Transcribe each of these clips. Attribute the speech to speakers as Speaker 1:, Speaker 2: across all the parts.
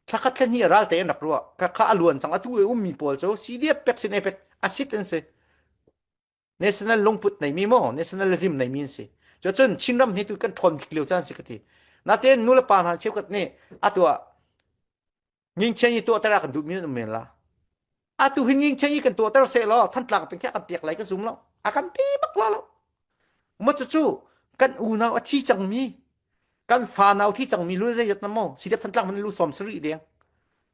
Speaker 1: Thlakhat thla hnih ral tein rak ruah. Ka kha a luan cang. Atu i ummi pawl cu CDF pek sin ai pek. A sit an si. National lungput nei mi maw, nationalism nei mi an si. Cu cun Chinram hi tu kan ṭhawn kik lio caan si ka ti. Natin nu le pa hna cheu kat nih atu ah ngingchen i tuah tara kan duh mi an um men la. atu hin ning chen i kan tuahter se lo thantlak peng kha kan piak lai ka zum lo a kan ti bak lo lo mo cu kan unau a thi cangmi kan fa nau thi cangmi lu zai yat na mo si dep thantlak man lu som sari deng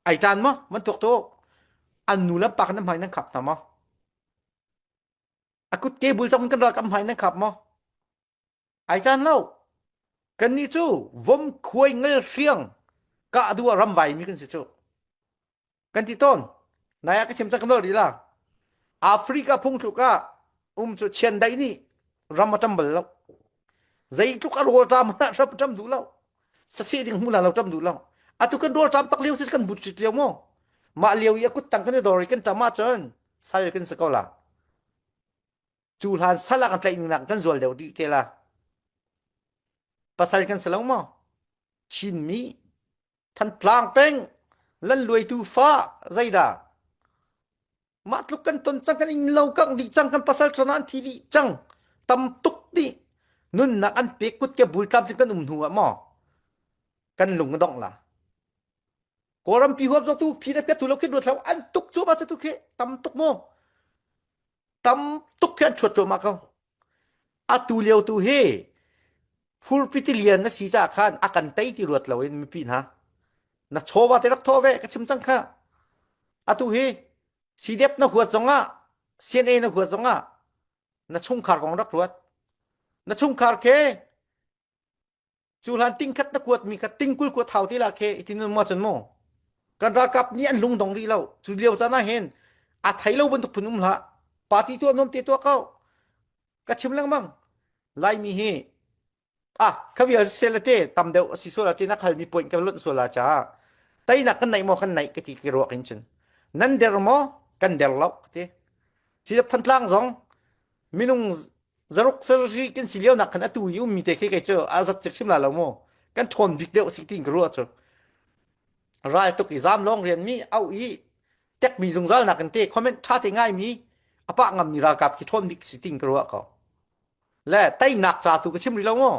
Speaker 1: ai tan mo man tok to an nu lam pak na mai nan khap na mo akut ke bul chang kan rak am mai nan khap mo Ai tan lo. Kannih cu vom khuai ngel hriang kah duh ah ramvai mi kan si cu. Kan ti tawn. Nai ah ka chim cak kan rih la. Africa phung tluk ah um cu chiandaih nih ram a ṭam bal lo. Zeitluk a rawl ṭam hmanh ah hrap a ṭam duh lo. Sasi ding hmu la lo ṭam duh lo. Atu kan rawl ṭam tak lio si kan but rit lio mu. Mah lio i a kut tang kan i dor i kan ṭam ahcun sai kan si ko la. cu hlan sal ah kan tlaih nungnak kan zual deuh dih te la pasal kan sa lo maw chinmi thantlang peng lan luaitu fa zeidah mah tluk kan ton cang kan in lo kang dih cang kan pasal thona an thi dih cang tam tuk dih nunnak an pe kut ke bul tam kan um hnu ah maw kan lung dong la kawlam pi huap zo tu phi da pet tu lo khi ruat lo an tuk chu ma chu tu khi tam tuk mo tam tuk khi an chuat cuahmah ko atu lio tu hi furpitilian na si ca khan a kan tei ti ruat lo in mipi hna na chawva te rak thaw ve ka chim cang kha atu hi CDF na huat zongah CNA na huat zongah na chungkhar kong rak ruat na chungkhar ke cu hlan ting khat na kuat mi kha ting kul kuat thau te la khe itin mo chan mo kan rakap ni an lung dong ri lo cu liao chana hen a thai lo bantuk phun um la party tu nom te to kau ka chim lang bang lai mi hi a khavi a se te tam deu asi so la te na khal ni point ka lot so la cha tai na kan nai mo kan nai ka ti ki ruak in chin nan der mo kan der lo te si than tlang zong minung zaruk sarri kan si lio nak khan atu i ummi te khi kei cu azat chek sim la lo mu kan ṭhawn bik deuh si tin ka ruah cu ral tuk i zam long rian mi au i tek mi zungzal nak kan te comment ṭha te ngai mi apa ngam mi ralkap khi ṭhawn bik si tin ka ruah ko le tei nak cha tu ka sim ri lo mu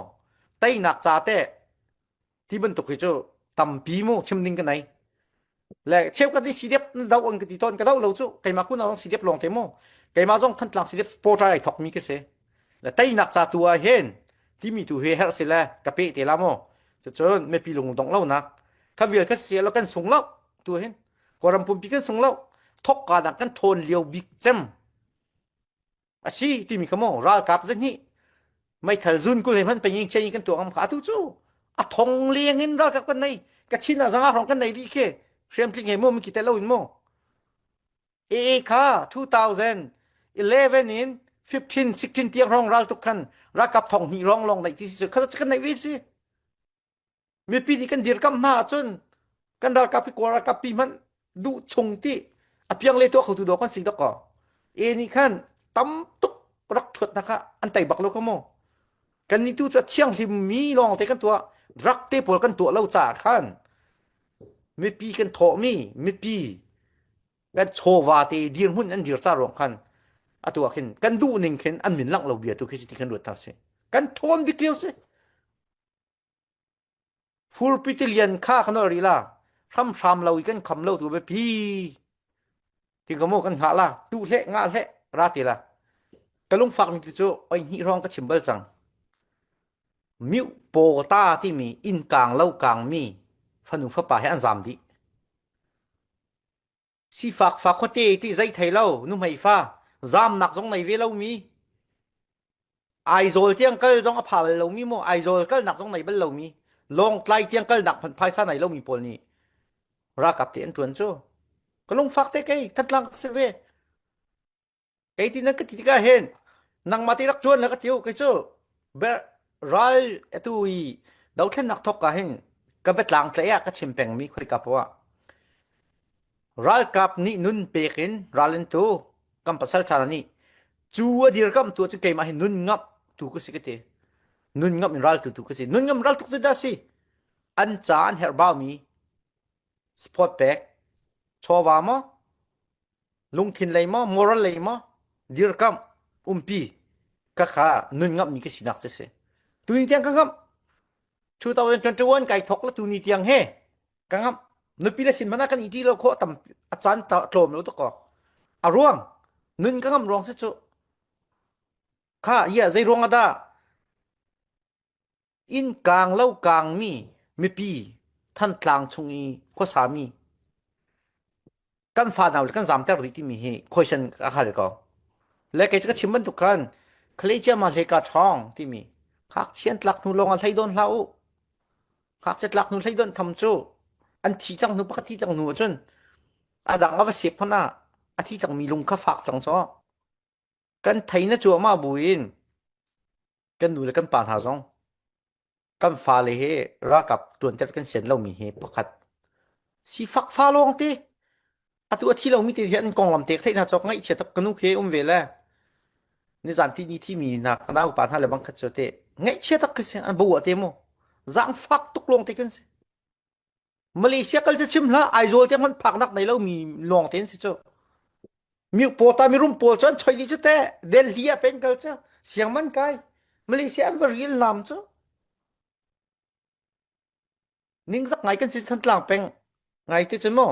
Speaker 1: tei nak cha te ti bantuk hi cu tampi mu chim ding ka nai le cheu ka ti sidep dau an ka ti ton ka dau lo cu keima kun awang sidep long te mu keima zong thantlang sidep sport ai thok mi ke se le tainak cha tu a hen timi tu he her se le ka pe te la mo chu chun me pi lung dong lo nak ka vil ka se lo kan sung lo tu hen ko ram pum pi kan sung lo thok ka da kan thon liu bik chem asi timi kha maw ralkap zahnih meithal zun kul he hman pengin khian kan tuah ngam kha atu cu a thong leng in ralkap kan nei ka chin ah zanga rong kan nei ri ke hriam tling he mo mi ki tel lo in mo ee kha 2011 in 15 16 tiang rong ral tuk khan rakap thong hni rong long nei ti si kan nei ve si mipi nih kan dirkamh hna ahcun kan ralkap hi kawl ralkap pi hmanh duh chung ti apiang le tuah khotu dawk kan si dok ko e nih khan tam tuk rak thuat hna kha an tei bak lo ka mu kan nih tu cu thianghlim mi lawng te kan tuah rak te pawl kan tuah lo caah khan mipi kan thawhmi mipi kan chawva te dirhmun an dir ca ruang khan atu ah khin kan duh ning khin an min langh lo bia tu khi si ti kan ruat thar si kan thawn bik lio si Furpitilian kha kan ol rih la hramhram lo i kan kham lo tu biapi ti ka mu kan hngah la tu hle nga hle ra te la ka lungfak mi cu oi hni rong ka chim bal cang miu paw ta ti mi inn kang lo kang mi fanu fapa he an zam dih Sifak fa khuate ti zei thei lo nuhmei fa zamnak zong nei ve lomi Aizawl tiang kal zong a pha bal lomi mo Aizawl kalnak zong nei bal lomi Lawngtlai tiang kalnak phun phaisa nei lomi pawl nih rakap te an tuan cu ka lungfak te kei thatlang se ve kei ti nan ka ti tikah hin nangmah ti rak ṭuan la ka tiu kei cu ber ral atu i dothlennak thok ka hin ka betlang tlei ah ka chim pengmi khoika poah ralkap nih nun pek in ral in tu kan pasal ṭha nih cu a dir kam tu cu keimah hi nun ngap tu ka si ka ti nun ngap in ral tu tu ka si nun ngam ral tuk cu da si an ca an herh baumi Support pek. Chawva maw? Lungthin lei maw? Moral lei maw? Dirkam umpi. Ka kha nun ngam mi ka sinak che si. Tuni tiang ka ngam. 2021 kai thok la tuni tiang he ka ngam nupi le sin mana kan iti lo kho tam achan ta tlom lo to ko aruang nun ka ngam ruang se chu kha ya zai ruang ada Inn kaang lo kaangmi mipi Thantlang chung i khuasami kan fa hna kan zamter dih timi hi khoisen a hal ko le kei ka chim bantuk khan khlei ciama hlei ka ṭhawng timi khak chian tlak hnu lawng a hlei don hlah u khak che tlak hnu hlei don tham cu an thi cang hnu pakhat thi cang hnu ahcun a dang a va sep hmanh ah a thi cangmi lung kha fak cang caw kan thei na cuahmah buin kan nu le kan pa hna zong kan fale he ralkap tuanter kan sian lomi he pakhat sifak fa lawng te atu a thi lomi te hian konglam tek thei hna chok ngaih chia tak kanu ke um ve le nizan ti ni thi mi na na upa hna le bang khat cho te ngaih chia tak ka se an bo te mo zang fak tuk lawng te kan se Malaysia kal cu chim hlah Aizawl te hmanh phaknak nei lo mi lawng tein si cu mi pawl ta mi rum pawl cu an choi dih cu te Delhi ah pen kal cu siang man kai Malaysia an va ril nam cu ningzak ngai kan si than tlang peng ngai te cu maw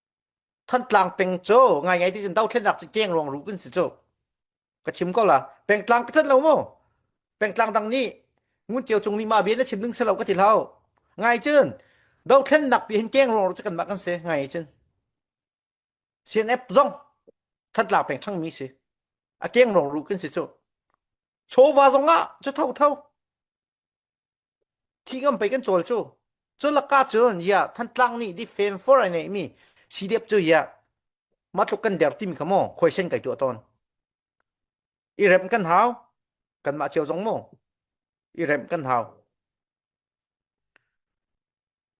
Speaker 1: Thantlang peng cu ngai ngai ti cun dothlennak cu keng ruang ruh kan si cu ka chim ko la pengtlang ka tlanh lo mu pengtlang dang nih ngun cio cung ni ma bia na chim ding selo ka ti lo ngai cun dothlennak pi hin keng ruang cu kan mah kan si ngai cun CNF zong thantlang peng thang mi si a keng ruang ruh kan si cu chawva zong ah cu tho tho Thi ngam pei kan cawl cu. Cu lakah cun ya Thantlang nih di femfor ai neihmi sidep cu ya matluk kan der timi kha maw khuaisen kai tuah tawn. I rem kan hau kanmah cio zong maw i rem kan hau.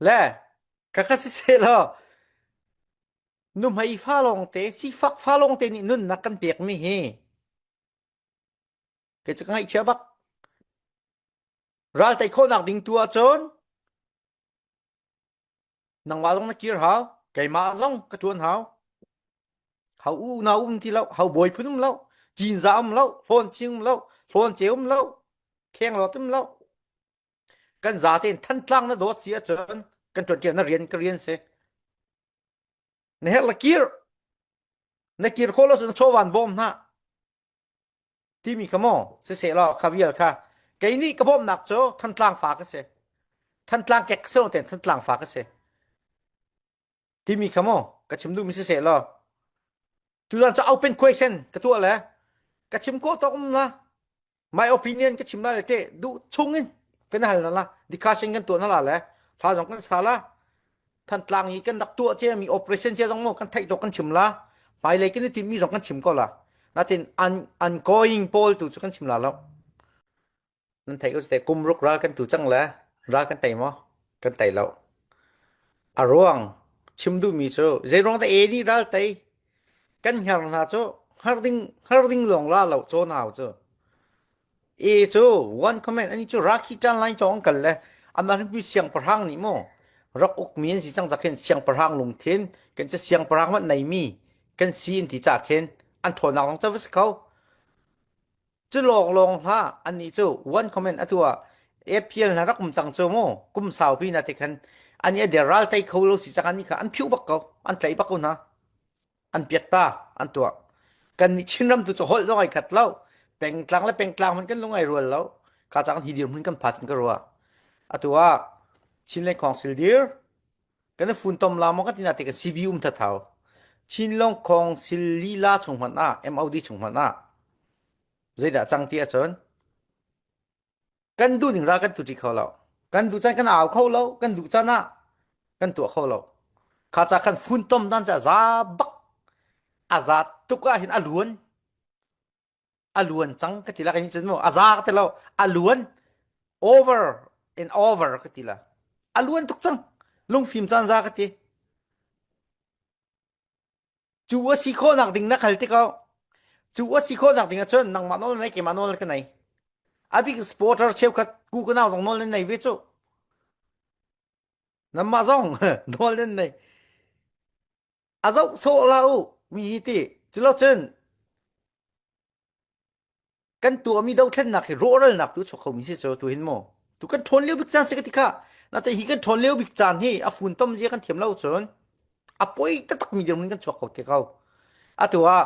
Speaker 1: Le ka kha si se lo nuhmei fa lawng te sifak fa lawng te nih nunnak kan pekmi hi Kei cu ka ngaihchia bak. Ral tei khawhnak ding tu ahcun nangmah zong na kir hau, keimah zong ka ṭuan hau. Hau unau um ti lo, hau bawi phun um lo, cinza um lo, hlawn ching um lo, hlawn ceu um lo, khenghlawt um lo. Kan zate in Thantlang na dawt si ahcun kan ṭuan ṭiak na rian ka rian si. na herh la kir na kir kho lo na chawan bawm hna timi ka mo si se lo kha vial kha kei nih ka bawmnak cu thantlang fa ka si thantlang kek se ten thantlang fa ka si timi ka mo ka chim du mi si se lo tu zan cha open question ka tu le ka chim ko to um la my opinion ka chim la le te du chung in kan hal na la discussion kan tuah na la le tha zong kan sa la than tlang i kan rak tuah che mi operation che zong mo kan thai to kan chim la pai le kan ti mi zong kan chim ko la natin an an going poll tu chu kan chim la lo nan thai ko te kum ruk ral kan tu chang le ral kan tai mo kan tai lo a ruang chim du mi chu zeirong ta e ni ral tai kan hner hna cu hngar ding hngar ding lawng la lo caw nau cu e cu one comment ani cu rakhi tan lai chong kal le ama rimpi siang parang ni mu rak uk mi an si chang zakhin siang parang lung thin kan che siang parang mat nei mi kan si in ti cha khen an thon nak long cha vis kho Cu lawnglawng hlah annih cu one comment atu ah appeal na rak um cang cu mu kum saupi na te khan ani a deral tei kho lo si cang ani kha an phiu bak ko an tlei bak ko hna an piak ta an tuah kan nih Chinram tu cu holh zong ai khat lo pengtlang le pengtlang hman kan lungai rual lo ka chang hi dir mun kan phat kan ka rua atu ah Chin le Khong sil dir kan funtom la mo ka tina te ka CB um tha thau chin long khong sil li la chung hman a MOD chung hman a zeidah cang ti a chon kan du ning ra kan tu ti kho lo kan du chan kan au kho lo kan du chan a kan tua kho lo kha cha khan funtom dan cha za bak azat tuka hin aluan a luan cang ka ti la kan chin mo a za ka ti lo a luan over and over ka ti la a luan tuk cang lungfim caan za ka ti cu a si khawh nak ding na khal ti ko cu a si khawh nak ding ahcun nangmah nawl nai keimah nawl ka nai a big supporter cheukhat ku ka nau zong nawl nan nei ve cu nanmah zong nawl nan nei a zoh sawh la u mi hi ti culocun kan tuahmi dothlennak hi rawhralnak tu chuak khomi si cu tu hin mu tu kan ṭhawn lio bik caan si ka ti kha na te hi kan ṭhawn lio bik caan hi a fun tom zia kan thiam lo cun a poi taktakmi dirhmun kan chuak ko te ko atu ah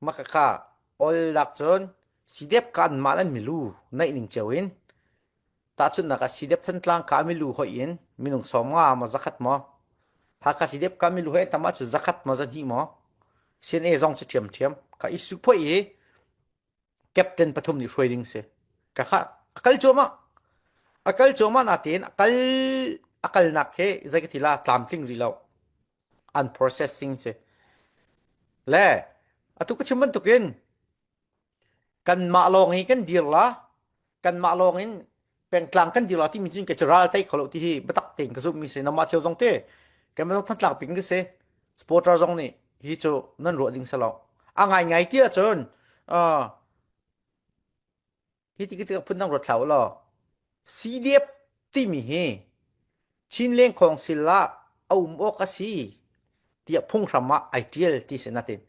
Speaker 1: Makaka oil lak cun sidep kha anmah an milu naih ning cio in tahchunhnak ah sidep thantlang ka milu hoih in minung sawm nga maw zakhat maw Hakha sidep ka milu he tam ahcun zakhat maw zahnih maw CNA zong cu ṭhiamṭhiam ka i sukphoih i captain pathum nih hruai ding si ka kha a kal cuahmah a kal cuahmah natein a kal a kalnak hi zei ka ti la tlamtling rih lo. an processing si le atu ka chim bantukin kanmah lawng hi kan dirla kanmah lawng in pengtlang kan dirla timi cin ka ci ral tai kholo ti hi batak tein ka zummi si namah thil zong te kan zong thantlak ping ka si supporter zong nih hi cu nan ruah ding salo a ngai ngai ti ahcun Hi ti tikah phundang ruat hlah u law CDF timi hi Chin Lengkhawng sil ah a um awk a si tiah phunghram ah ai tial ti si natin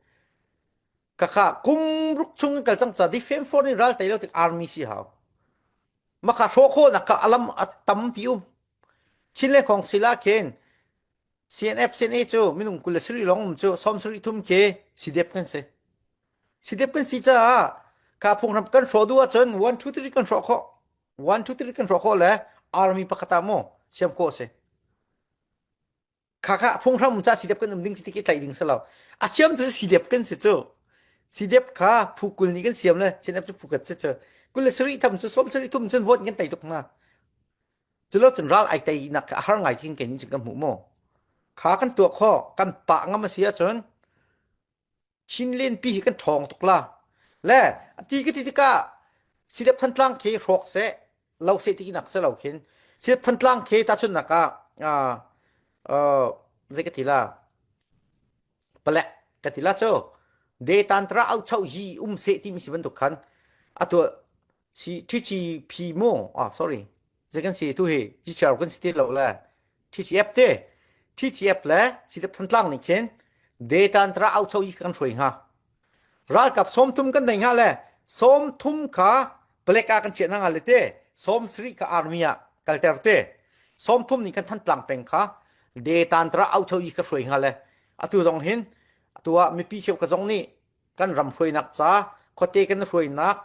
Speaker 1: kaka kum ruk chung in kal cang ca di fem for ni ral tai lo tik army si hau maka hro kho nak ka alam atam ti um Chin Lengkhawng sil ah khin CNF CNA cu minung kul le sarih lawng um cu sawm sarih thum khi CDF kan si. CDF kan si caah ka phunghram kan hrawh duh ahcun 1 2 3 kan hrawh khawh 1 2 3 kan hrawh khawh le army pakhat ah mu siam khawh si kha kha phunghram ca CDF kan um ding si ti ki tlaih ding selo a siam tu CDF kan si cu CDF kha phu kul ni kan siam le CNF cu phu kat si cu kul le sarih tham cu sawm sarih thum cun vote kan tei tuk na Culo cun ral ai teinak kha a har ngai king kenin cun kan hmu maw? Kha kan tuah kho kan pa ngam a si ahcun Chin len pi hi kan ṭhawng tuk la. Le ti ka ti tikah Sidep Thantlang khi hrawk se, lo se ti nak se lo khin Sidep Thantlang khi ta chun nak ah uh, uh, zei ka ti la pale ka ti la cho de tantra au chau hi um se ti mi si bantuk khan atu Si Twitchi phi mo ah sorry. Zei kan si tu hi Twitter kan si ti lo le Twitch app te Twitch app le sidep thantlang ni khin data antra au chau i kan shroi nga ral kap som thum kan nei nga le som thum kha black a kan che na nga le te som sri ka army a kalter te som thum ni kan thantlang peng kha data antra au chau i ka shroi nga le atu zong hin atu a mipi cheu ka zong ni kan ram hruainak ca khuate kan hruainak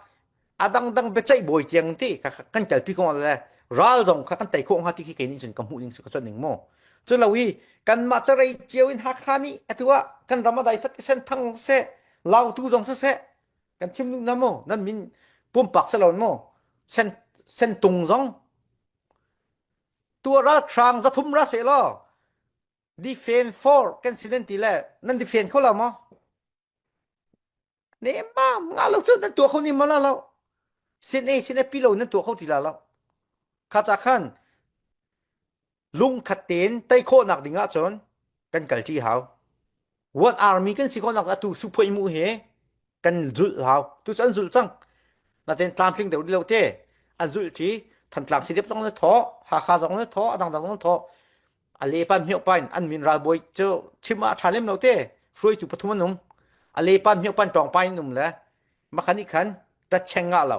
Speaker 1: a dangdang biaceih bawi tiang ti kan kalpi ko le ral zong kha kan tei khawh hnga ti khi keini cun ka hmuh ding ka chon ning mu cu lo hi kan mah carei cio in hakha ni atua kan ram adai fat sen thang se lautu zong se se kan thim na mu nan min pumpak se lon mu sen sen tung zong tua ral khrang za thum ra se lo Defend for kan si nan ti le nan defend kho lo maw? Ne mam nga lo cu nan tua kho ni ma la lo. Sin a sin a pi lo nan tua kho ti la lo. Kha cha khan lung khat ten tai khawh nak ding ah cun kan kal ṭi hau. What army kan si ko nak atu su phoi mu he kan zul hau tu an zul cang naten tlamtling deuh lo te an zul ti than tlam sidep zong le tho ha kha zong le tho adang dang zong tho ale pan mhio pan an min ral boi chu chima tha lem lo te hruai tu pathum anum ale pan mhio pan tong pai num le makhani khan ta cheng nga lo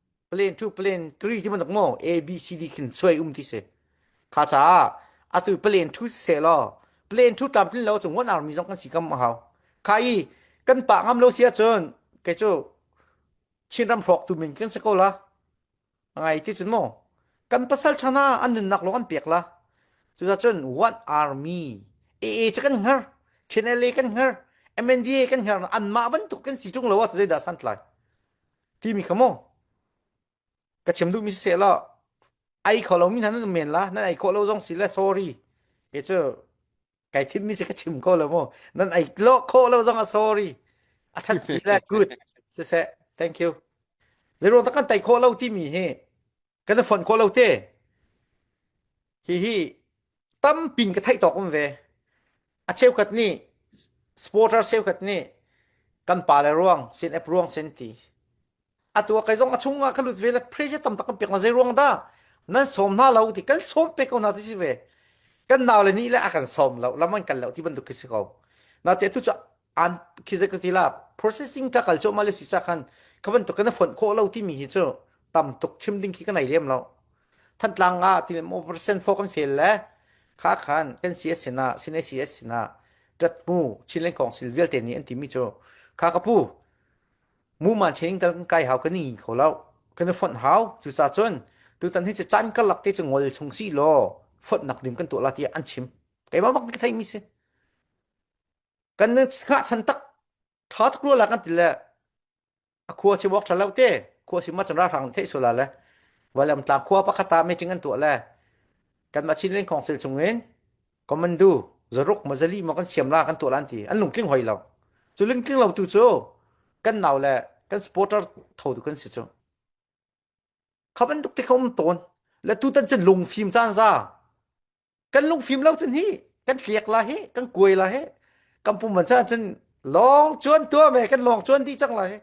Speaker 1: Plan to plan three ti bantuk maw A B C D khin suai um ti si kha caah atu plan to se law plan to tlam tlin lo cu one army zong kan si kam a hau kha i kan pa ngam lo si ahcun kei cu Chinram hrawk tu min kan si ko la ngai ti cun maw kan pasal thana an nunnak lawng an pek la cuzacun one army AA cu kan hngar CNLA kan hngar MNDA kan hngar anmah bantuk kan si tung lo ah zeidah san tlai Timi kha mu ka chim duhmi si seh law ai kho lomi hna nan men la nan ai khawh lo zong si le sorry ke cu kai thimmi si ka chim ko lo mu nan ai lo khawh lo zong a sorry a that si le good siseh thank you zeiro tak kan tai khawh lo timi hi kan i fonh khawh lo te hihi tampin ka theih tawk um ve a cheukhat nih supporter cheukhat nih kan pa le ruang sin ep ruang sen ti atu kai zong a chung ah ka lut ve le pressure tam tak kan pek na zei ruang dah nan som na lo ti kan som pe ko na ti si ve kan nau le ni le a kan som lo lam an kan lo ti bantuk khi si ko na te tu cha an khi zat ka ti la processing ka kal cuahmah le si cha khan ka bantuk ka na fonh khawh lo timi hi cu tam tuk chim ding khi ka nei lem lo thantlang nga ti mo percent fo kan fail le kha khan kan CS sina sin ACS sina tat mu chin leng kong sil vialte ni an timi chu kha ka pu mu man training tal kan kai hau kan ni kho lo kan fon hau chu sa chun tu tan hi che chan ka lak te chu ngol chung si lo fon nak dim kan tu la ti an chim kai ma bak ni thai mi se kan nun ngah chan tak tha tuk lo la kan ti le a khua si walk tha lo te khua si ma chanra hrang thei sola le walam tlang khua pakhata me ching an tu le kan ma chin len council chung in commando zaruk ma zali ma kan siam la kan tu lan ti an lung tling hoi lo chu ling tling lo tu chu kan naw le kan supporter tho tu kan si chu khaban tuk te khom ton le tu tan chen lung phim chan za kan lungfim lo cun hi kan tliak la hi kan kuai la hi kan pum man chan cun long chuan tua me kan long chuan di cang la hi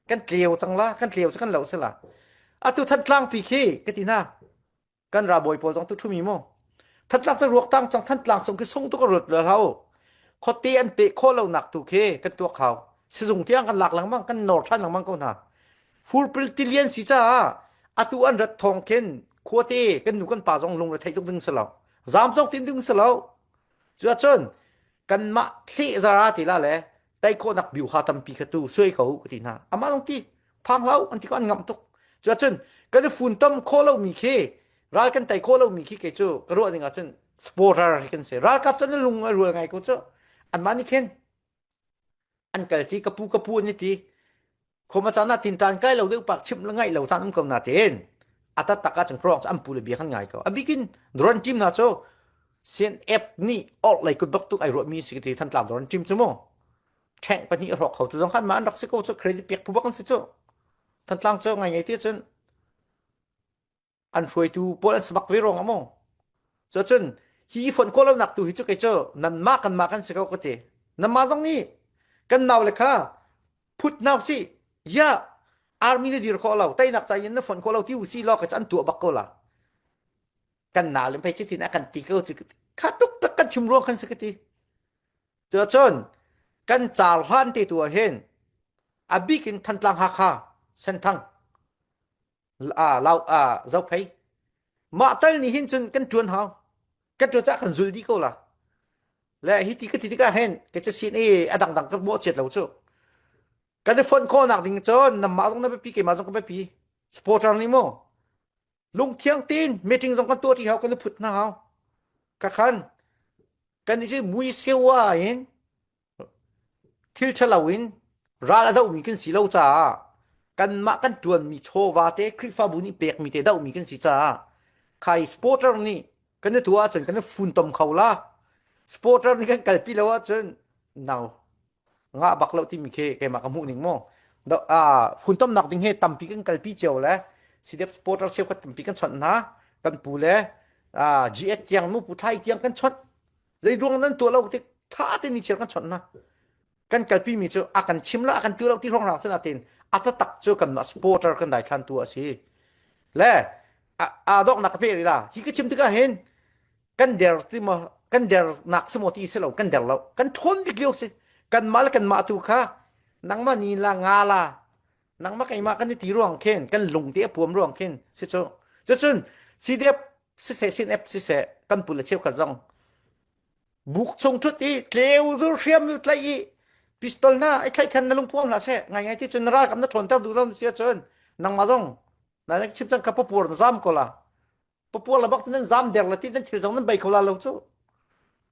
Speaker 1: kan tleu cang la kan tleu cu kan lo se la atu than tlang pi khi ka ti na kan ra boi pawl zong tu thu mi mo than tlang cang ruak tang cang than tlang song khi song tu ka rut le lau khote an pe kho lo nak tu khi kan tua khau sizung tiang kan lak lang mang kan nor than lang mang ko na Furpil tilian si caah atu an rat thawng khin khuate kan nu kan pa zong lung theih tuk ding si lo zam tok tin ding si lo cu cun kan mah thle zara ti la le tai khawnak biu ha tampi kha tu suai ko ka ti hna amah long ti phang lau an ti ko an ngam tuk cu cun kan i fun tom kho lo mi khi ral kan tai kho lo mi khi ke cu ka ruah ding ah cun sporter hi kan se ralkap cun lung a rual ngai ko cu an mah nih khin an kal ti kapu kapu ni ti khoma chan ah tin tan kai lo deuh pak chim la ngai lo chan um ko na ten ata taka chang krok an pu le bia kan ngai ko abikin doran team na cho sen app ni or lai kut bak tu ai ro mi si ti than tlam doran team chu mo thank pani ro kho tu zong khan ma an rak si ko cho credit pek pu bak kan si cho than tlang cho ngai ngai ti chun an hruaitu pawl an si bak ve rong a maw so cun hi i fonh khawh lonak tu hi cu kei cu nanmah kanmah kan si ko ka ti nanmah zong nih kan nau le kha phut nau si ya army na dir khawh lo tainak ca in na fonh khawh lo ti u si lo ka an tua bak ko la kan na lim phei chitin a kan ti ko chu kha tuk tak kan chim ruang kan si ka ti cho chon kan chal hlan te tu a hen abik in thantlang ha kha senthang aa lau a zo phei mah tal nih hin cun kan ṭuan hau kan ṭuan cah kan zul dih ko la le hi ti ka ti tikah hen ka ca sin i a dangdang ka mawh chiat lo cu kan i fonh khawhnak ding cun namah zong na biapi keimah zong ka biapi supporter nih maw lungthiang tin meeting zong kan tuah ṭi hau kan i phut hna hau ka khan kan i cu mui sewa in Thil ṭhalo in ral a dohmi kan si lo caah kanmah kan ṭuanmi chawva te Khrihfabu nih pekmi te dohmi kan si caah khai supporter nih kan i tuah ahcun kan i funtom kho la. Supporter nih kan kalpi lo ahcun nau ngah bak lo timi khi keimah ka hmuh ning maw. Do- ah, funtomnak ding he tampi kan kalpi cio le sidep supporter cheukhat tampi kan chawnh hna. Kan pu le ah, GH tiang, nupu ṭhai tiang kan chawnh. zeiruang nan tuah lo tik tha tein ni chiar kan chawnh na kan kalpi mi cu a kan chim la a kan tu lo ti rong rang sen atin ata tak cu kan ma supporter kan dai than tu asi le a dok nak pe ri la hi ka chim tika hin kan der ti ma kan der nak semo ti se lo kan der lo kan thon dik liu si kan ma le kan ma tu kha nangma ni la nga la nangma kai ma kan ni ti ruang khen kan lung te apuam ruang khen se cho chun sidep siseh sin app siseh kan pule cheu kan zong buk chung thut i tleu zur hriam yu tlai i pistol na ai tlai khan na lung puam la se ngai ngai ti chun ra kam na thon tar du ron sia chun nang ma zong na nek chim chang ka papur na zam ko la papur la bak nan zam der la ti nan thil zong nan bai ko la lo chu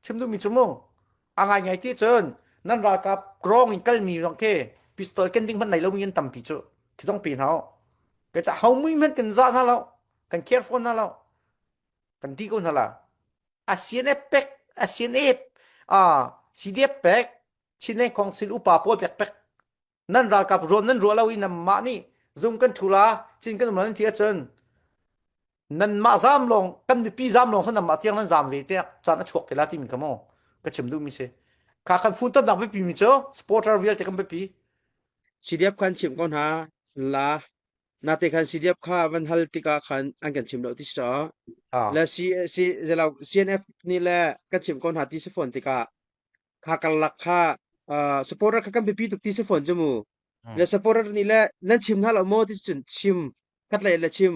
Speaker 1: chim du mi chumu angai ngai ti chun nan ra ka grong in kal mi zong ke pistol ken ding man nei lo min tam pi chu thi dong pi nao ke cha hau mui men ken za na lo kan care fawn hna lo kan ti ko hna la ASEAN pek ASEAN ah CDF pek Chinland Council upa pawl pek pek nan ralkap ruam nan ruah lo i nan mah nih zum kan thula chin kan umlan thi ahcun nan mah zam long kan mipi zam long san mah tiang nan zam ve te chan a chuak kila ti min kamo ka chim du mi se
Speaker 2: kha kan phun tam nak bi mi cho supporter vialte kan bi CDF kan chim ko hna la Nate khan CDF kha van hal tikah khan an kan chim lo ti si caah le CNF nih le kan chim ko hna ti si fawn tikah kha karlak kha supporter kha kan biapi tuk ti si fawn cu mu le supporter nih le nan chim hna lo maw ti cun chim katlei le chim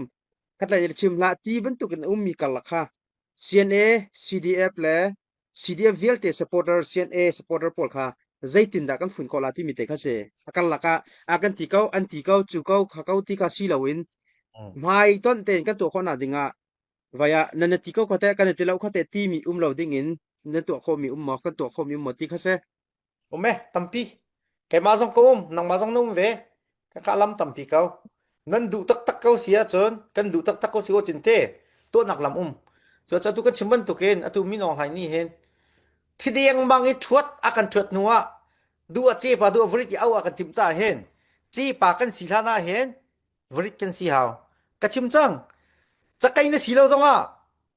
Speaker 2: katlei le chim hlah ti bantuk in a ummi karlak kha CNA CDF le CDF vialte supporter CNA supporter pawl kha zeitindah kan fun ko la timi te kha si a kar lakah a kan ti ko an ti ko cu ko kha ko ti ka si loin hmai ton ten kan tuah khawhna dingah vaya nan ti ko khote kan ti lo khote timi um lo dingin na tuah khomi um mo kan tuah khomi um mo ti kha se Um e,
Speaker 1: tampi. Keimah zong ka um, nangmah zong na um ve. Ka kah lam tampi ko. Nan duh taktak ko si ahcun, kan duh taktak ko si ko cinte, tuahnak lam um. Cu atu kan chim bantukin, atu min ong hai ni hen, thideng mang i thuat akan thuat hnuah, du a ce pa du a varit i au akan tim ca hen. Ci pa kan si hlana hen, varit kan si hau. Ka chim cang. Cakai na si lo zongah,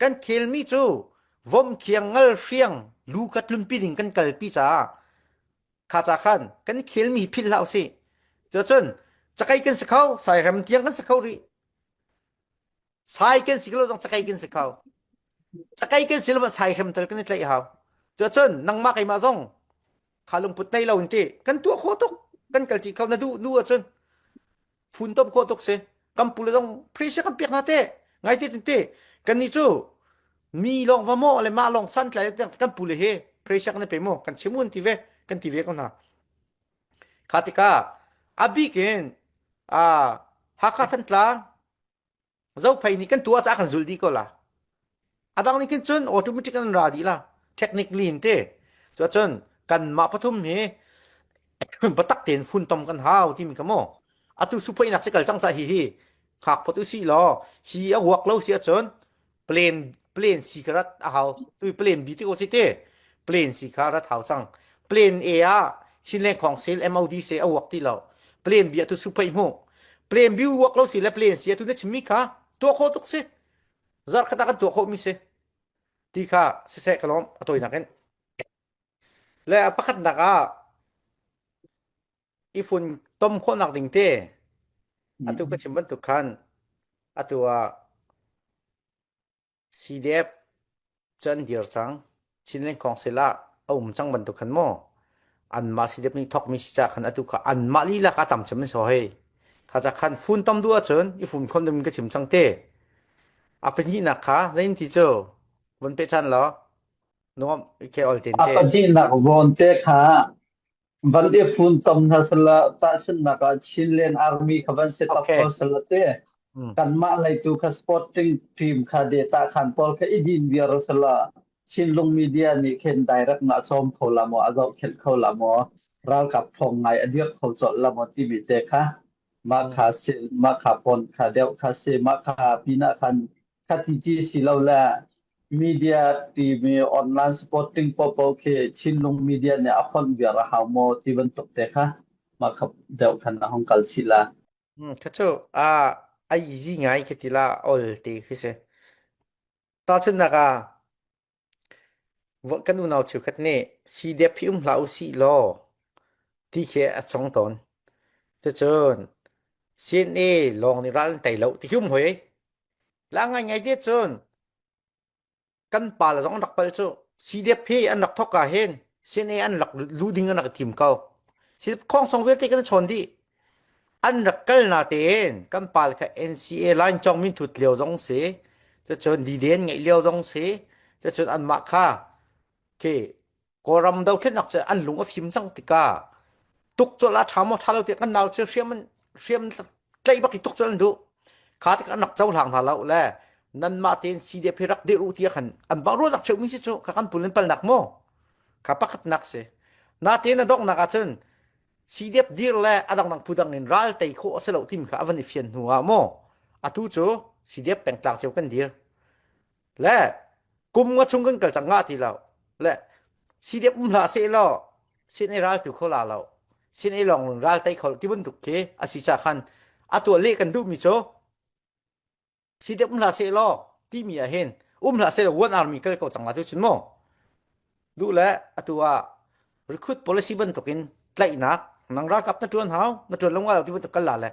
Speaker 1: kan khelmi cu vomkhiang ngal hriang lu kha tlunpi ding kan kalpi caah kha ca khan kan khelmi philh hlah usih cun cakai kan si kho sai rem tiang kan si kho rih sai kan si lo zong cakai kan si kho cakai kan si lo sai rem tal kan i tlaih hau cun nangmah keimah zong kha lungput nei lo in ti kan tuah kho tuk kan kal ti kho na duh nu ahcun funtom khawh tuk si kan pule zong free se kan piak hna te ngai te cin te kan ni cu mi long va mo le ma long san tlai kan pule he free se kan pe mo kan chimun ti ve kan ti ve ko na kha tika abik in a hakha thantlang zophei nih kan tu ah kan zul dih ko la adang nih khin cun automatic an ra dih la technically in te cu cun kan mah pathum hi batak tein fun tom kan hau ti mi ka mo atu supei nak si kal cang cha hi hi hak photu si law hi a huak lo si ahcun plan plane si kha rat a hau tu plane b ti ko si te plane si kha rat hau cang plane a ah chinleng khong sel mod se a work ti lo plane b a tu supai mu plane b work lo si le plane si a tu na chimi kha tua kho tuk si zar khata kan tua kho mi se ti kha se se kalom atoi nakin le a pakhat nak ah ifun tom kho nak ding te atu ka chim bantuk khan atu ah CDF cu an dir cang. Chinland Council ah a um cang bantuk khan maw anmah CDF nih thawkmi si ca khan atu kha anmah lilak ah tam cem an si hoi. Kha ca khan fun tom duh ahcun i fun khon ding ka chim cang te. A pahnihnak kha zein ti cu von peh ṭhan law nuam ke ol ten te. A pahnihnak vawnte
Speaker 3: kha Van i fun tom hna salah tahchunhnak ah Chinland Army kha van si tak ko salah te kanmah leitu kha sporting team kha data khan pawl kha idin viar salah Chinlung media nih khen direct na chom kho la mo azau khet kho la mo ralkap thong ngai adir kho chol la mo ti mi te kha ma kha sil ma kha pon kha deu kha se ma kha pina khan Khatiti silole media timi online supporting popo khi Chinlung media nih a fonh viar a hau maw ti bantuk te kha ma khap deuh khan a hong kal chih la. Hmm, Thacu,
Speaker 1: a a easy ngai khi ti la ol te khi si. Tahchunnak ah, Kan unau cheukhat nih sidep hi um hlah usih law ti khi a cong tawn. Cucun CNA lawng nih ral an tei lo ti khi um hoi. La ngaingai te cun kan pa le zong an rak palh cu sidep hi an rak thawk ah hin CNA an rak lu ding an rak i tim ko. Sidep khawng song vialte kan i chawn dih. an rak kal na tein kan pal kha NCA line cong min thut lio zong si cacun diden ngeih lio zong si cacun anmah kha ke kawlram dothlenak cu an lung a fim cang tika tuk col a tha mo tha lo ti kan nau cu hriam hriam tlei bak i tuk col an du kha tak an rak cho hlang hna lo le nan mah tein CDP rak dir u ti khan an bang ru nak cheu mi si chu ka kan pulin pal nak mo ka pakhat nak si na te na dok nak a cun sidep dir le adangdang phudang in ral tei khawh a si lo timi kha a van i fian hnu ah maw atu cu sidep pengtlak cio kan dir le kum nga chung kan kal cang nga ti lo le sidep um hla se lo sin i ral tu kho la lo sin i long ral tei kho ti bantuk khi a si cha khan a tua le kan duh mi cu si dek um la se lo ti mi ah hin um la se one army kal ko chang la tu chin mo du le atu a recruit policy ban tokin tlainak nang ra kap na tuan hau na tuan longwa ti bu kal la le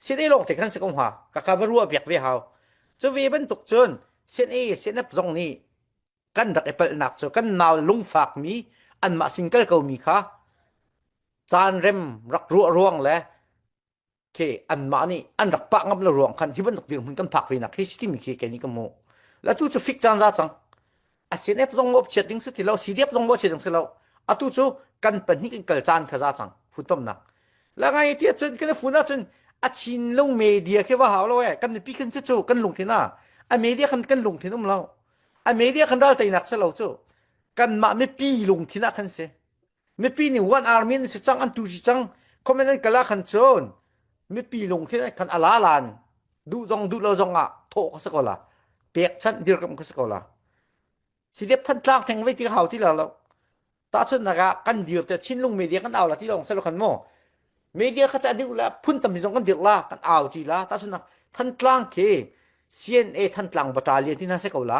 Speaker 1: se dei long te kan se kom ha ka ka va ruwa biak ve hau chu ve ban tuk chun CNA CNF zong ni kan rak epal nak chu kan naw lung fak mi an ma singkal ko mi kha chan rem rak ruwa ruang le Ke anmah nih an rak pah ngam lo ruang khan hi bantuk dirhmun kan phak ve nak hi timi khi ken i ka mu. Latu cu fik caan za cang. A CNF zong maw chiat ding si ti lo, CDF zong maw chiat ding si lo. Atu cu kan pahnih kan kal caan kha za cang. Funtomnak. La ngai ti cun kan fun ah cun a chin lung media khi va hau lo e. Kan mipi kan si cu kan lung thin a. A media kan kan lung thin um lo. A media kan ral teinak si lo cu. Kan mah mipi lung thin ah kan si. mipi nih one army an si cang an tu si cang comment an kal ah khan cun mipi lung thin khan ala lan duh zong duh lo zong ah thawh ka sa ko la pekchanh dir kam ka sa ko la si dep phan tlang theng vei ti hau ti la lo ta chun na ga kan dir te chin lung media kan au la ti long selo kan mo media kha cha dir la phun tam zong kan dir la kan au ti la ta chun na than tlang ke CNA than tlang battalion ti na se ko la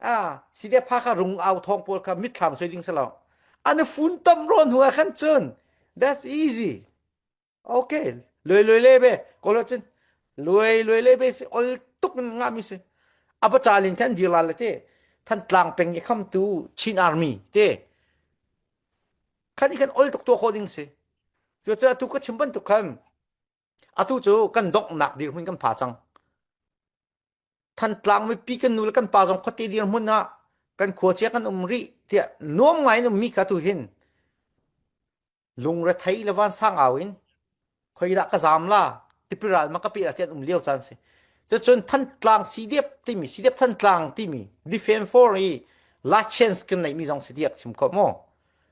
Speaker 1: a si de pha kha rung au thong pawl kha mitthlam soi ding selo an fun tom ro hnu ah khan chun that's easy okay loi loi le be ko lo chin loi loi le be si ol tuk nga mi si apacha lin khan dir la le te than tlang peng ge kham tu chin army te khan i khan ol tuk to kho ding si chu chu tu ka chim ban tu khan atu cu kan donghnak dirhmun kan pha cang thantlang mipi kan nu le kan pa zong khuate dirhmun ah kan khuachia kan um rih tiah nuam ngai in ummi kha tu hin lungre thei le van sang au in khoi dah ka zam la tipiral ma ka pe la tian um lio chan si cun thantlang cdf timi cdf thantlang timi defend for i license kan neimi zong si diak sim ko mo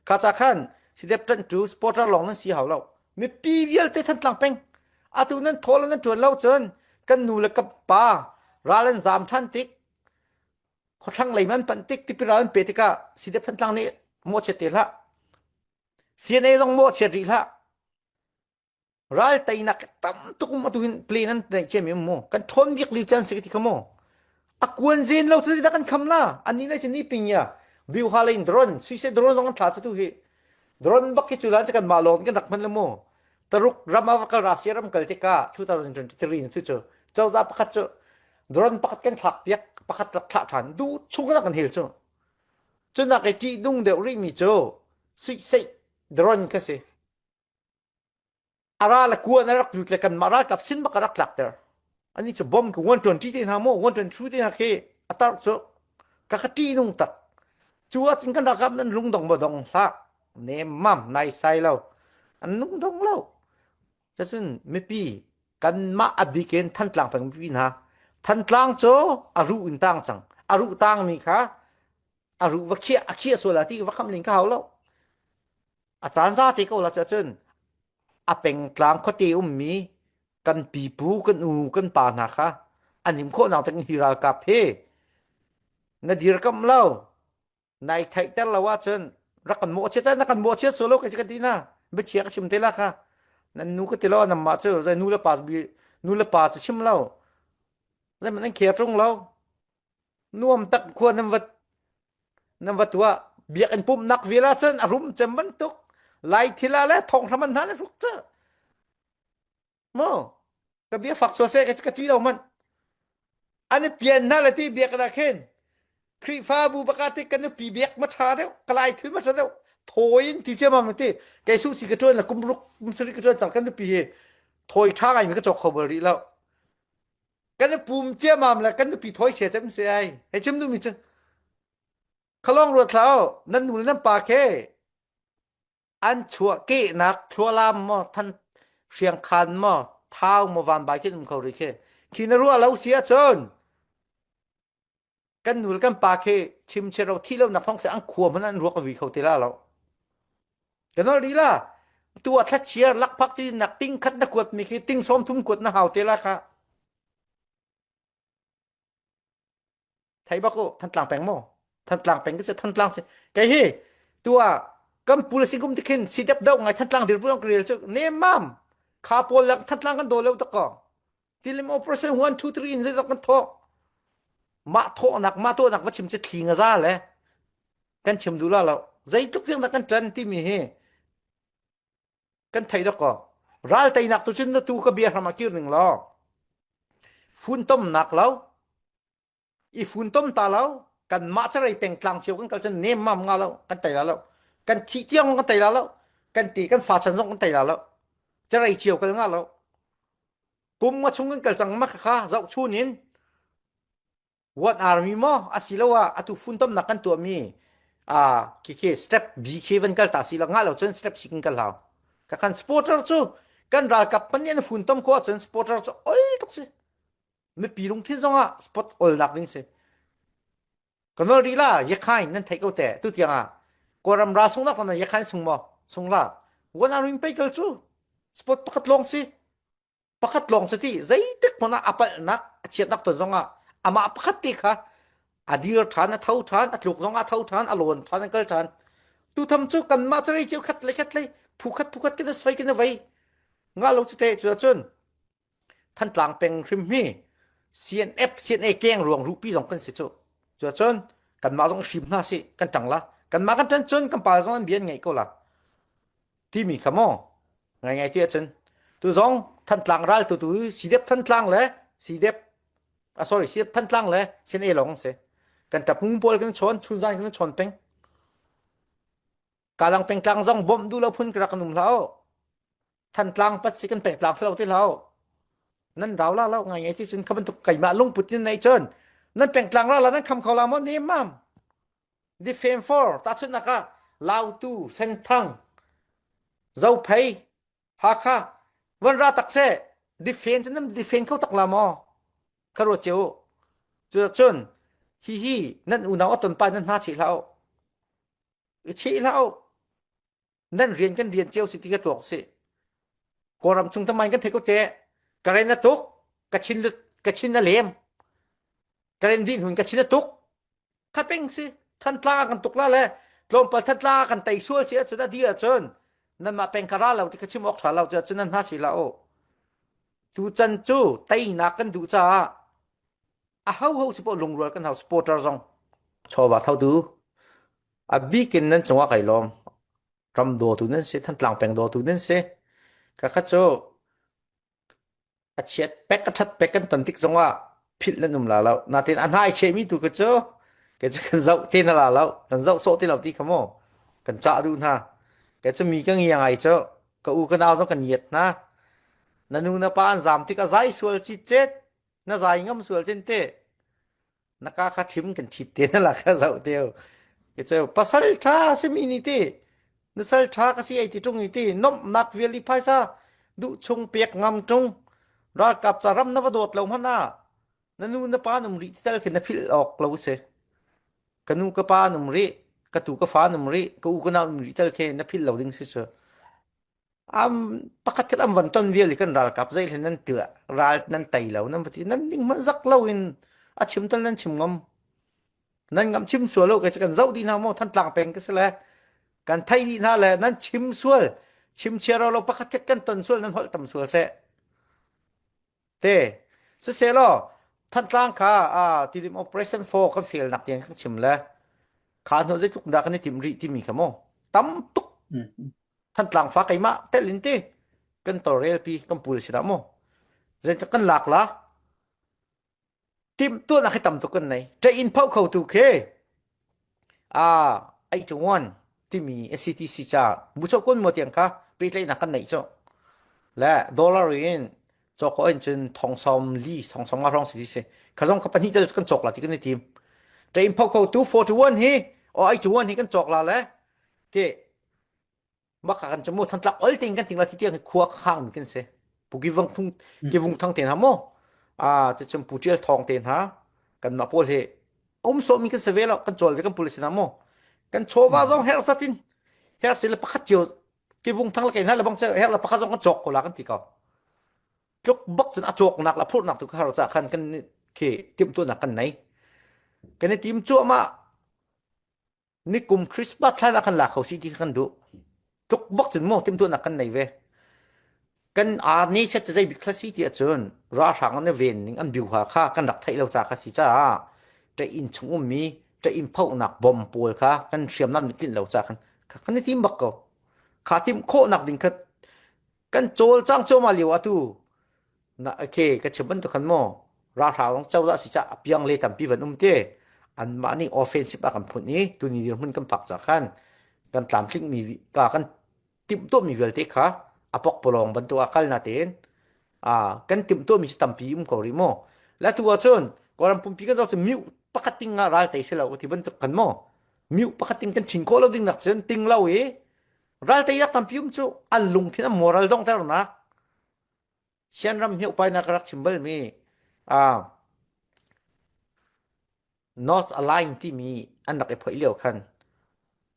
Speaker 1: kha cha khan cdf tan tu supporter long nan si hau lo mipi vialte thantlang peng atu nan thawl nan tuan lo cun kan nu le ka pa ral an zam than tik khothlang lei man pan tik tipil ral an pe tikah side phantlang nih mo che te hlah CNA zong mo che ri hlah ral teinak tam tuk mo tu hin plan an nei che mi mo kan thon bik li chan sik ti kha mo akuan zen lo chu da kan kham na ani lai chini ping ya viu ha lein drone suicide drone zong an thla chu tu hi Drone bak hi cu dan kanmah lawng kan rak hman le mu taruk ram a kal Russia ram kal tika 2023 tu cu cozah pakhat cu drone pakhat kan thlak piak pakhat rak thlah than du chung rak kan hil cu cunak i tih nung deuh ri mi cu suih sei drone ka si ara le kua na rak tut le kanmah ralkap sin bak rak tlak ter ani chu bom ku 120 te hna mo 122 te hna khi atar chu ka ka ti nung tak chu a chin kan rakap nan lung dong ba dong hlak ne mam nai sai lo an lung dong lo ta chun mipi kanmah abiken than tlang peng mipi hna than tlang cho aru in tang chang aru tang mi kha aru va khia akhia sola ti va kham ning ka hau lo a caan za te ko la cha cun a pengtlang khuate ummi kan pipu kan u kan pa hna kha anim khawh nang tak hi ral kap he na dir kam lo nai theih ter lo ah cun rak kan mawh chiat na kan mawh chiat solo ka ka tina be chia ka chim te la kha nan nu ka tilo nam ma chu zai nu le pa bi nu le pa chu chim lo zai man an khea trung lo nuam tak khua nan vat nan va tuah biakinn pumhnak vial ahcun a rum cem bantuk lai thila le thong hraman hna na hruk cu mo ka bia fak sual seh ka ti lo man an i pian hna le ti biakinn ah khin Khrihfabu bakatik kan i pi biak ma tha deuh kalai thil ma tha deuh thawi in ti cem am ti kei su si ka tuan la kum ruk kum sari ka tuan cang kan i pi hi thawi tha ngai mi ka chok kho bal rih lo kan i pum ciamam le kan nupi thoi sia cem se ai hei chem nu mi cu khalong ruat hlau nan nu le nan pa khe an chuah kehnak thlualam mo than hriang khan mo thau mo van bai khin um kho ri khe khi na ruah lo sia chon kan nul kan pa khi chim che ro thi lo nak thong se an khua mun an ruak vi kho te la lo kanol ri la tu a thla chiar lak phak ti nak ting khat na kuat mi khi ting som thum kuat na hau te la kha thai ba ko than tlang peng mo than tlang peng ke se than tlang se kai hi tu a kan pul si gum tikhin si dep do ngai than tlang dir pun krel chu ne mam kha pol lak than tlang kan do lo tak ko tilim operation one two three in zeidok kan thawk mah thawknak mah thawknak va chim che thli nga za le kan chim du la lo zeitluk riang kan tan timi hi kan thei da ko ral teinak tu cun na tu ka bia hram a kir ning lo fun tom nak lo i funtom ta lo kanmah carei pengtlang cio kan kal cun nem mam nga lo kan tei la lo kan thi tiang kan tei la lo kan ti kan fa chan zong kan tei la lo carei cio kal nga lo kum nga chung kan kal cang ma kha zau chun in what army mo asiloa atu funtom nak kan tuah mi a kike step bk van kal ta si la nga lo chun step sikin kal hau ka kan supporter chu kan ralkap pan in funtom ko chun supporter chu oi tok si mipi lungthin zongah spot olnak ding si kanol rila yekhain nan thei ko te tu tiang ah kawram ra sung na khona yekhain sung mo sung la wan aring peikel chu spot pakhat long si pakhat long si ti zeitik mona apal nak achiat nak ton zongah ama pakhat ti kha adir than a tho than atluk zongah tho than alon than akal than tu tham chu kan ma chari chiu khat le khat le phu khat phu khat kin soi kin vai nga lo chi te chu chun Thantlang peng hrim hi CNF CNA keng ruang rupi zong kan si cu cu cun kanmah zong hrim hna si kan tang la kanmah kan tan cun kan pa zong an bian ngai ko la timi kha mo ngai ngai ti ahcun tu zong thantlang ral tu tu sidep thantlang le sidep ah sorry sidep thantlang le CNA lawng an si kan tap ngung pawl kan chawn chun zan kan chawn peng Kalang pengtlang zong bawmh duh lo phun ka rak nung hlau. Thantlang pat si kan pek tlang selo ti hlau. Nan rau la lo ngai ngai ti cun ka bantuk keimah lungput in nei cun nan pengtlang la la nan kham kho la mo ni mam. Di fame for ta chun naka Lautu Senthang Zophei Hakha Van ra tak se defend cun nan defend kho tak la mo karo cheu cu cun hi hi nan unau aton pa nan hna chi hlau i cheh hlah u nan rian kan rian cio si ti ka tuak si kawlram chung tamain kan thei ko te ka ren na tuk ka chin ka chin na lem ka ren din hun ka chin na tuk thapeng si than tla kan tuk la le tlawmpal than tla kan tai sual si cu da di ah cun nan mah peng kara lo ti ka chim ok tha lo cu cun nan hna si la o tu can cu teinak kan duh caah a ho ho si pawh lungrual kan hau supporter zong chawva thotu a bikin nan chunga kai lom ram do tu nan se than tlang peng do tu nan se ka kha cho a chiat pek ka that pek kan ton tik zongah phil nan um la lo na tin a hnai che mi tu ka cho ke chu kan zau te na la lo kan zau so te lo ti khamo kan cha du na ke chu mi ka ngi ngai cho ka u ka nau zo kan yet na nanu na pa an zam tik a zai sual chi chet na zai ngam sual chin te na ka kha thim kan thit te na la kha zau te ke cheu pasal tha simi ni ti nusal tha ka si ai ti tung ti nom nak vial i phaisa du chung pek ngam tung ralkap cha ram na va dawt lo mana na nu na pa num ri tal khin na phil ok lo se kanu ka pa num ri ka tu ka fa num ri ka u ka na num ri tal khe na phil lo ding si chu am pakhat khat am van ton vial i kan ralkap zei hlen nan tila ral nan tei lo nan pati nan ning hmanh zak lo in a chim tal nan chim ngam nan ngam chim sual lo kai che kan zoh dih hna maw thantlang peng ka si le kan thei dih hna le nan chim sual chim chia ro lo pakhat khat kan ton sual nan holh tam sual seh te siselaw Thantlang kha a tilim operation fo kan fail nak tiang kan chim le kha hnu zeitluk dah kan i tim rih timi kha mu tam tuk Thantlang fa keimah telin ti kan torrel pi kan pul si da mu zeitak kan lak la timhtuahnak hi tam tuk kan nei ṭa in phoh kho tu khi a ai chuan timi SCTC ca mucho kun mo tiang kha pehtlaihnak kan nei chu le dollar in choko in cun thongsawm li thongsawm nga rong si si khazong kha pahnih tal kan chok la ti kan ni tim ṭa in phoh kho tu 41 hi o ai chuan hi kan chok la le ti maka kan chamo than tlak ol ting kan ting la ti tiang khua khang mi kan se puki vang thung ke vung thang te na mo a che chum putrial thong te na kan ma pol he om so mi kan se velo kan chol ve kan pul sina mo kan chova zong her satin her se le pakhat chiu ke vung thang la ke na le bang che her la pakhat zong kan chok ko la kan ti ko tluk bak chun a chok nak la phur nak tu ka har cha khan kan ke tim tu nak kan nei kan tim chu ma nikum Christmas thlai ah kan la kho si ti kan duh tluk bok cun mo timtuan nak kan nei ve kan a ni chet zei bik khasi ti ahcun ra hrang ne ven ning an biu ha kha kan rak thei lo cha kha si cha te in chung um mi te in phau nak bom pol kha kan hriam nam tlin lo cha kan kan ni tim bak ko kha tim kho nak ding kha kan cawlcang cuahmah lio atu na okay ka chim bantuk khan maw ralhrang rong codah si cah apiang le tampi van um te anmah nih offensive a kan phun i tuni dirhmun kan phak ca khan kan tlamtling mi ka kan timtuah mi vialte kha apok polong bantuk a kal na ten a kan timtuah mi tampi um ko ri maw la tu ahcun koram pumpi kan zau cu miu pakhat ting nga ral te se lo ti bantuk kan maw miu pakhat ting kan thin ko lo ding nak cun ting lo i Ralte yak tampi um cu an lungthin an moral donghternak sianram hi upai nak rak chim balmi uh, North Align timi an rak i phoih lio khan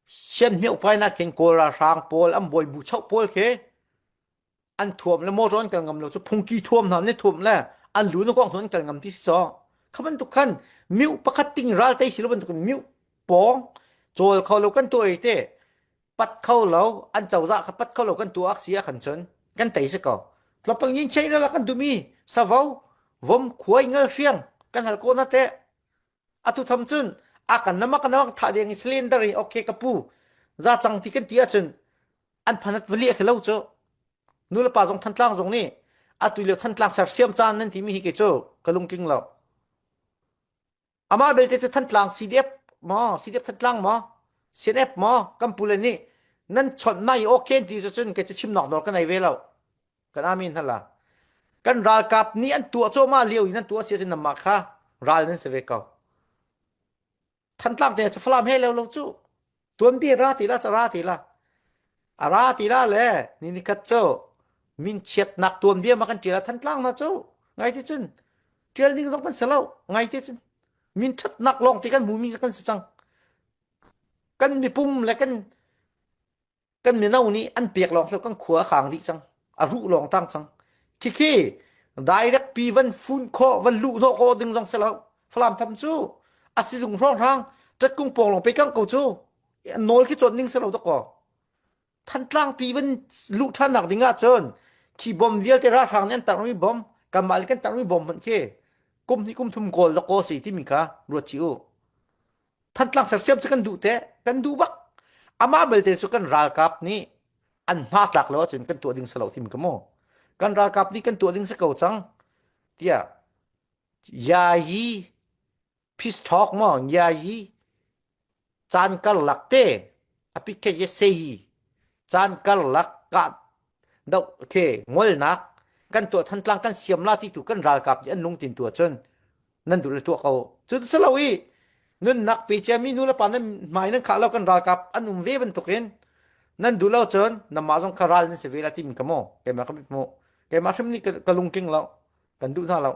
Speaker 1: sian mi upai nak khin kawl ralhrang pawl an bawi bu chau pawl khi an thuam le motor an kal ngam lo cu phungki thuam hna ne thuam le an lu na kong an kal ngam ti si so kha bantuk khan miu pakhat ting ral tei si lo bantuk miu pawng chawl kho lo kan tu ai te pat kho lo an chawza kha pat kho lo kan tu ak sia khan chun kan tei se ko tlopang yin chei ra la kan tu mi savo vom khuai ngal hriang kan hal ko na te atu tham cun akan namak namak tha ding i cylinder i okay ka pu za cang ti kan ti ahcun an phanat vali a lo cu nu le pa zong thantlang zong nih atu leo thantlang sersiam caan nan timi hi ke cu ka lungtling lo amah belte cu thantlang cdf ma cdf thantlang ma cnf ma kan pule nih nan chawnh mai okay ti cu cun ke cu chim nok dor ka nei ve lo kan amin hala kan ralkap nih an tuah cawma lio in an tuah si cun namah kha ral nan se ve ko thantlak te cha falam he lo lo chu tuan bi ra ti la cha ra ti la a ra ti la le ni ni khat cho min chiat nak tuan bia ma kan tira thantlak na chu ngai ti chun tial ding zong kan selo ngai ti chun min that nak long ti kan mumi kan si chang kan mi pum le kan kan mino nih an pek lawng hlah kan khua a khang dih cang a ruh lawng tang cang khikhi direct pi van fun kho van lu hnawh ko ding zong selo falam tham cu a sizung hrong hrang tat kung pawng long pe kang ko cu nawl khi chon ning selo to ko thantlang pi van lu than nak ding ah cun khi bom vialte ra hrang nih an tar mi bom kanmah le kan tar mi bom hmanh khi kum hnih kum thum kawl da ko si timi kha ruat chi u Thantlak sersiam cu kan duh te kan duh bak amah belte cu kan ralkap nih an hma tlak lo ahcun kan tuah ding salo tim ka mu kan ralkap nih kan tuah ding si ko cang tiah ya hi peace talk mo ya hi caan karlak te api ke ye se hi caan karlak ka do ke ngolnak kan tuah than tlang kan siam la ti tu kan ralkap ji an lung tin tu cun nan duh le tuah ko cun si lo i nunnak pe ciami nu le pa nan hmai nan khah lo kan ralkap an um ve bantukin nan duh lo cun nanmah zong kha ral nan si ve la timin ka maw keimah ka mit mu keimah hrim nih ka lungking lo kan duh hna lo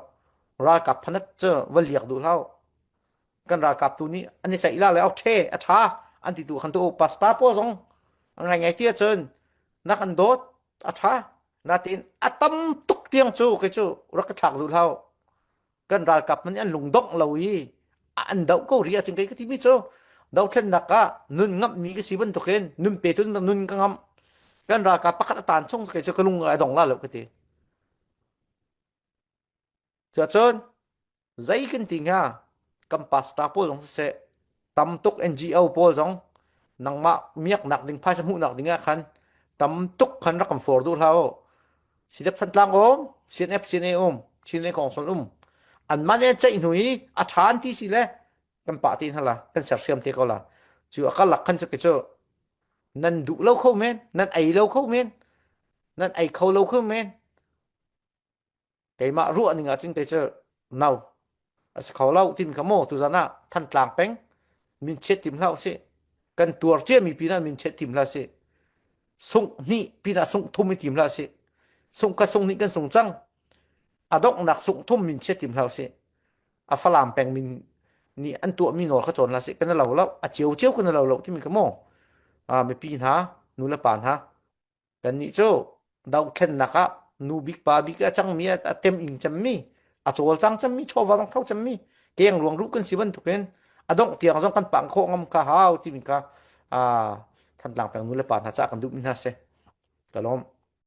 Speaker 1: ralkap phanat cu va liak duh hau kan ralkap tu nih an i ceih la le au ṭhe a ṭha an ti tu khan tu pasta po zong an rai ngai tia cun nak an dawt a ṭha natin a tam tuk tiang cu kei cu rak ka thlak duh hau kan ralkap man an lungdongh lo i an doh ko ri ahcun kai ka timi cu dothlennak ah nun ngam mi ka si bantukin nun pe tun nun ka ngam kan ralkap pakhat atan chung kai cu ka lung ai dong la lo ka ti cuacun zei kan ti hnga kan pastor pawl zong siseh tam tuk NGO pawl zong nangmah miaknak ding phaisa hmuhnak ding ah khan tam tuk khan rak kan for duh hlau silep san tlang um CNF CNA um Chinle kong sol um an man e chai hnui a than ti si le kan pa ti hala kan sersiam te ko la chu akal lak khan chake chu nan du lo kho men nan ai lo kho men nan ai kho lo kho men keimah ruahning ah cin te cu no a si kho lo tin ka mo tu zan ah than tlang peng min chet tim hlau si kan tuar cia mi pin ah min chet tim hla si sung ni pin ah sung thum i tim hla si sung ka sung ni kan sung cang adok nak sung thum min chet tim hlau si a falam peng min ni an tua mi nor kha chon la si kan lo lo a chiu chiu kan lo lo ti mi ka mo a mi pi hna nu le pa hna Kannih cu dohthlennak ah nu bik pa bik a cangmi a tem ing cemmi a cawlcang cemmi chawva zong tho cemmi keng ruang ruh kan si bantukin a dongh tiang zong kan pang khawh ngam kha hau timi kha ah Thantlang peng nu le pa hna ca kan duhmi hna si ka lawm.